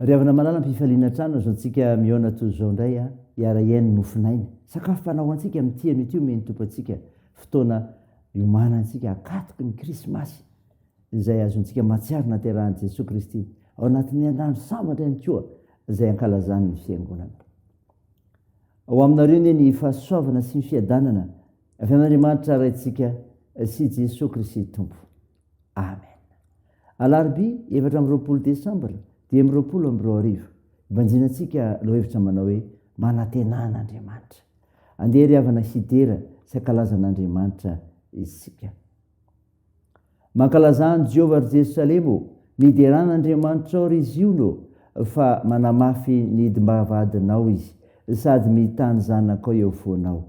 Ry havana malala ampifaliana hatrany aza antsika mihaona toy izao indray a, hiara hihaino ny mofon'aina. Sakafo fanao ho antsika amin'ity an'ity omeny ny Tompo antsika, fotoana hiomanantsika hakatoky ny krismasy izay azontsika mahatsiaro naterahan'i Jesoa Kristy ao anatin'ny andro sambatra ihany koa izay ankalazan'ny Fiangonana. Ho aminareo anie ny fahasoavana sy ny fiadanana avy amin'Andriamanitra Raintsika sy Jesoa Kristy Tompo. Amen. Alarobia efatra amby roapolo desambra dimy amby roapolo amby roa arivo, ibanjinantsika lohahevitra manao hoe manantenà an'Andriamanitra. Andeha ry havana hidera sy hankalaza an'Andriamanitra isika. Mankalazà an'i Jehovah ry Jerosalema ô, miderà an'Andriamanitrao ry Ziona ô, fa manamafy ny hidim-bavahadinao izy sady mità ny zanakao eo foanao.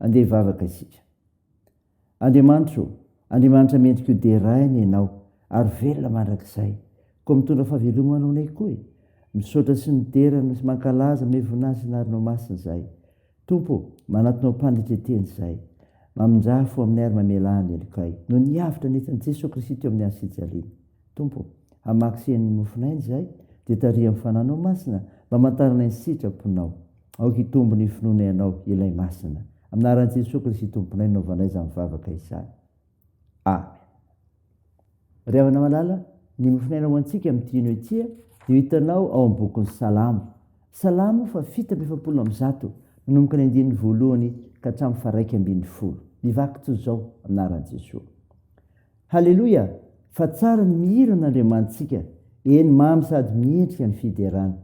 Andeha hivavaka isika. Andriamanitra ô, Andriamanitra mendrika ho deraina Ianao ary velona mandrakizay, koa mitondra fahavelomana ho anay koa e! Misaotra sy midera no sy mankalaza Mey voninahitra anarnao masina izahay. Tompo ô, manatona ho mpanetreteny izahay. Mamindrafo aminay ary mamelà ny helokay, noho ny avotra nentin'i Jesoa Kristy teo amin'ny hazo fijaliana. Tompo ô, hamaky sy hihaino ny mofon'aina izahay, dia tariho amin'ny fananao masina mba hamantarana ny sitraponao. Aoka hitombo ny finoanay Anao, Ilay Masina. Amin'ny anaran'i Jesoa Kristy Tomponay no nanaovanay izany vavaka izany. Amen. Ry havana malala, ny mofon'aina ho antsika amin'ity hino ity dia ho hitanao ao amin'ny bokin'ny Salamo. Salamo fa fito amby efapolo amby zato, manomboka ny andininy voalohany ka hatramin'ny faha raika ambin'ny folo. Mivaky toy izao, Amin'ny anaran'i Jesoa. Haleloia fa tsara ny mihira an' Andriamanitsika, eny mamy sady miendrika ny fiderana.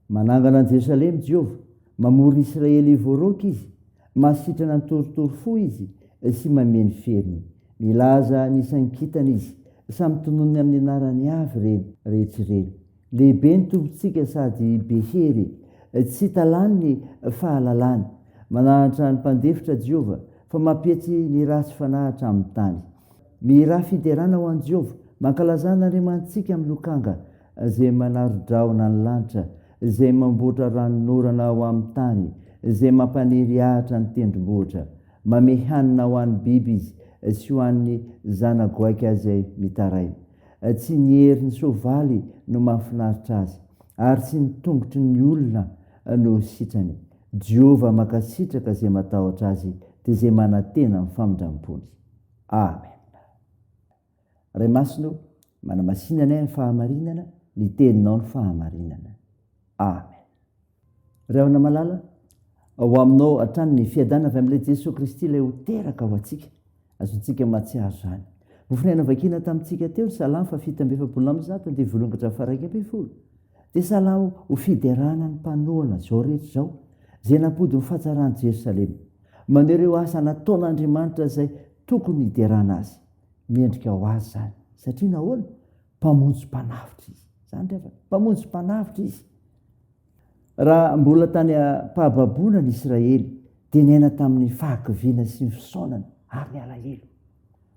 Manangana an'i Jerosalema i Jehovah, mamory ny Israely hivoaroaka Izy, mahasitrana ny torotoro fo Izy sy mamehy ny feriny. Milaza ny isan-kintana Izy, samy tononiny amin'ny anarany avy ireny rehetra ireny. Lehibe ny Tompontsika sady be hery, tsy hita lany ny fahalalany. Manahantra ny mpandefitra Jehovah, fa mampietsy ny ratsy fanahy hatramin'ny tany. Mihirà fiderana ho an'i Jehovah, mankalazà an'Andriamanitsika amin'ny lokanga, Izay manaro-drahona ny lanitra, Izay mamboatra ranonorana ho amin'ny tany, Izay mampaniry ahitra ny tendrombohitra. Mamehy hanina ho an'ny biby Izy, sy ho an'ny zana-goaika izay mitaraina. Tsy ny herin'ny soavaly no mahafinaritra azy, ary tsy ny tongotry ny olona no sitrany. Jehovah mankasitraka izay matahotra azy, dia izay manantena amin'ny famindram-pony. Amen. Ray Masina ô, manamasina anay amin'ny fahamarinana, ny Teninao no fahamarinana. Amen. Rahona malala, ho aminao hatrany ny fiadana avy amin'ilay Jesoa Kristy ilay ho teraka ho antsika. Azontsika mahatsiaro izany. Vofinay navakiana tamintsika teo ny Salamo fahafito amby efapolo amby zato andivo voalohany ka hatramin'ny faharaika ambin'ny folo. Dia salamo ho fiderana ny mpanohana izao rehetra izao izay nampody ny fahatsaran'i Jerosalema. Maneho ireo asa nataon'Andriamanitra izay tokony hiderana azy. Mendrika ho azy izany. Satria nahoana? Mpamonjy mpanavotra izy. Izany ry havana. Mpamonjy mpanavotra izy. Raha mbola tany am-pahababoana ny Israely, dia niaina tamin'ny fahakiviana sy ny fisaonana ary ny alahelo.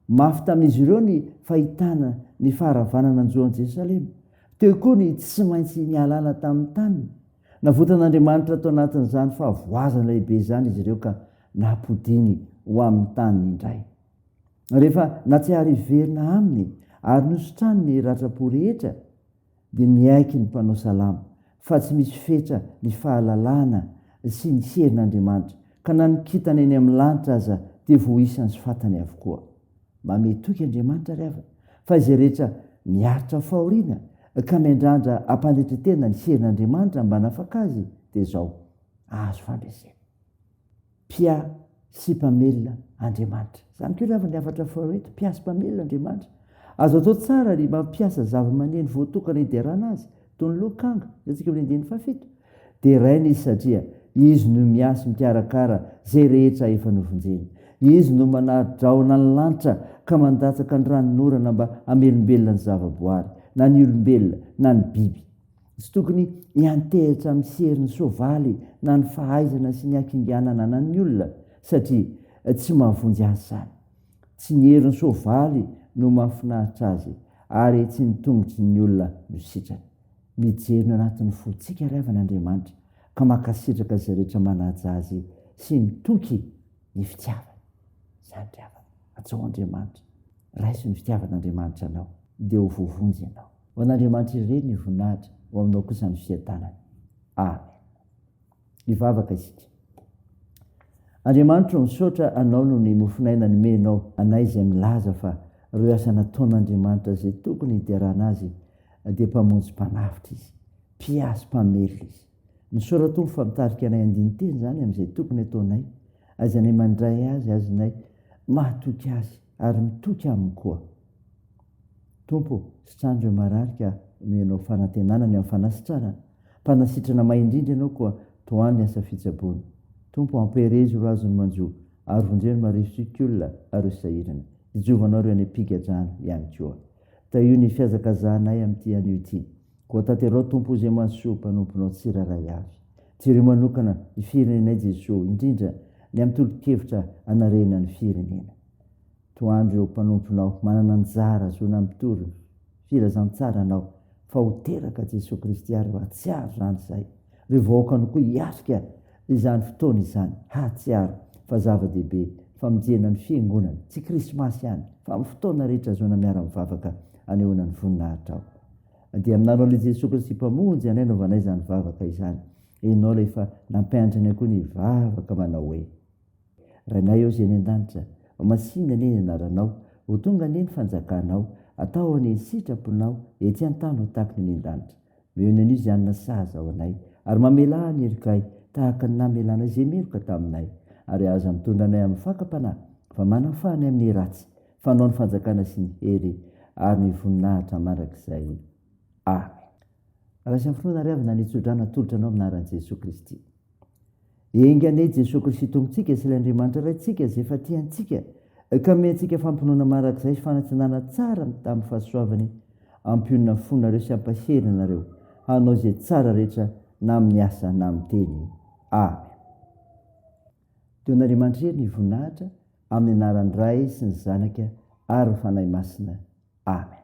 Mafy tamin'izy ireo ny fahitana ny faharavana nanjo an'i Jerosalema. Teo koa ny tsy maintsy nihalala tamin'ny taniny. Navotan'Andriamanitra tao anatin'izany fahavoazana lehibe izany izy ireo ka nampodiany ho amin'ny taniny indray. Rehefa natsiahy hiverina aminy ary nositrany ny ratram-po rehetra, dia miaiky ny mpanao salamo fa tsy misy fetra ny fahalalana sy ny herin' Andriamanitra, ka na ny kintana eny amin'ny lanitra aza dia voaisany sy fantany avokoa. Mamehy toky Andriamanitra ary avy fa izay rehetra miaritra fahoriana ka miandrandra hampanetren-tena ny herin' Andriamanitra mba hanafaka azy dia izao, azo fandresena. Mpia sy mpamelona Andriamanitra. Izany koa ilàvan'ny hafatra faharoa eto, mpia sy mpamelona Andriamanitra. Azo atao tsara ny mampiasa zavamaneno voatokana hiderana azy, toy ny lokanga, hitantsika eo amin'ny andininy fahafito. Deraina izy satria izy no miahy sy mikarakara izay rehetra efa novonjeny. Izy no manara-drahona ny lanitra ka mandatsaka ny ranonorana mba hamelombelona ny zavaboary, na ny olombelona, na ny biby. Tsy tokony hiantehitra amin'ny serin'ny soavaly na ny fahaizana sy ny hakinganana anan'ny olona satria tsy mahavonjy azy izany. Tsy ny herin'ny soavaly no mahafinaritra azy ary tsy ny tongotry ny olona no sitrany. Mijery ny ao anatin'ny fontsika ry havana Andriamanitra ka mankasitraka izay rehetra manaja Azy sy mitoky ny fitiavana. Izany ry havana. Atsoaho Andriamanitra. Raiso ny fitiavan'Andriamanitra anao, dia ho voavonjy ianao. Ho an'Andriamanitra irery ny voninahitra, ho aminao kosa ny fiadanana. Amen. Hivavaka isika. Andriamanitro, misaotra Anao noho ny mofon'aina nomenao anay izay milaza fa ireo asa nataon'Andriamanitra izay tokony hiderana Azy dia Mpamonjy Mpanavotra Izy, Mpiazo Mpamelona Izy. Ny Soratompo fa mitarika anay andinin-teny izany amin'izay tokony ataonay, aizanay mandray azy, aznay mahatoky azy ary mitoky aminy koa. Tompo ô, sitrano ireo marary ka omeo anao fanantenana ny amin'ny fanasitrana, mpanasitrana may indrindra ianao koa tohano ny asa fitsaboana. Tompo ô, ampiherezo ireo azony manjo ary vonjeo ny marivo sy kiola ary ireo sahirana. Ijovanao ireo any am-pigadrana ihany koa. Dia io ny fihazakazahanay amin'ity anio ity. Koa tanterao Tompo izay mahasoa mpanomponao tsirairay avy. Jereo manokana ny firenenay Jesoa, indrindra ny amin'ny tolo-kevitra anarena ny firenena. Toandro ireo mpanomponao manana anjara zo nampitory firazantsaranao fa ho teraka Jesoa Kristy ary hatsiaro izany izay. Ry vahoakany koa hiatrika izany fotoana izany, hahatsiaro fa zava-dehibe famonjena ny Fiangonana, tsy Krismasy ihany, fa amin'ny fotoana rehetra ahazoana miara-mivavaka anehoana ny voninahitrao. Dia aminareo ilay Jesoa Kristy Mpamonjy anay anaovanay izany vavaka izany. Ianao ilay efa nampianatra anay koa ny hivavaka manao hoe, Rainay ô Zay any an-danitra, homasihina anie ny Anaranao, ho tonga anie ny fanjakanao, atao anie ny sitraponao, etsy an-tany ho tahaka ny any an-danitra. Eo ny anio izay hanina saha zao anay, ary mamelà ny herikay, tahaka ny namelanay izay meloka taminay, ary aza mitondra anay amin'ny fakam-panahy, fa manafaha anay amin'ny ratsy, fanao ny fanjakana sy ny hery, ary ny voninahitra mandrakizay. Amena. Raha misy amin'ny finoana ary avy na ny tso-drano atolotra anao amin'ny anaran'i Jesoa Kristy. Enga anie i Jesoa Kristy Tompontsika sy ilay Andriamanitra Raintsika izay efa tia antsika ka ome antsika fampinoana marak'izay sy fanatsinana tsara amin'ny fahasoavany hampionona fonareo sy hampahery anareo hanao izay tsara rehetra na amin'ny asa na amin'ny teny. Amen. Don'Andriamanitra Hery ny voninahitra amin'ny anaran'ny Ray sy ny Zanaka ary ny Fanahy Masina. Amen.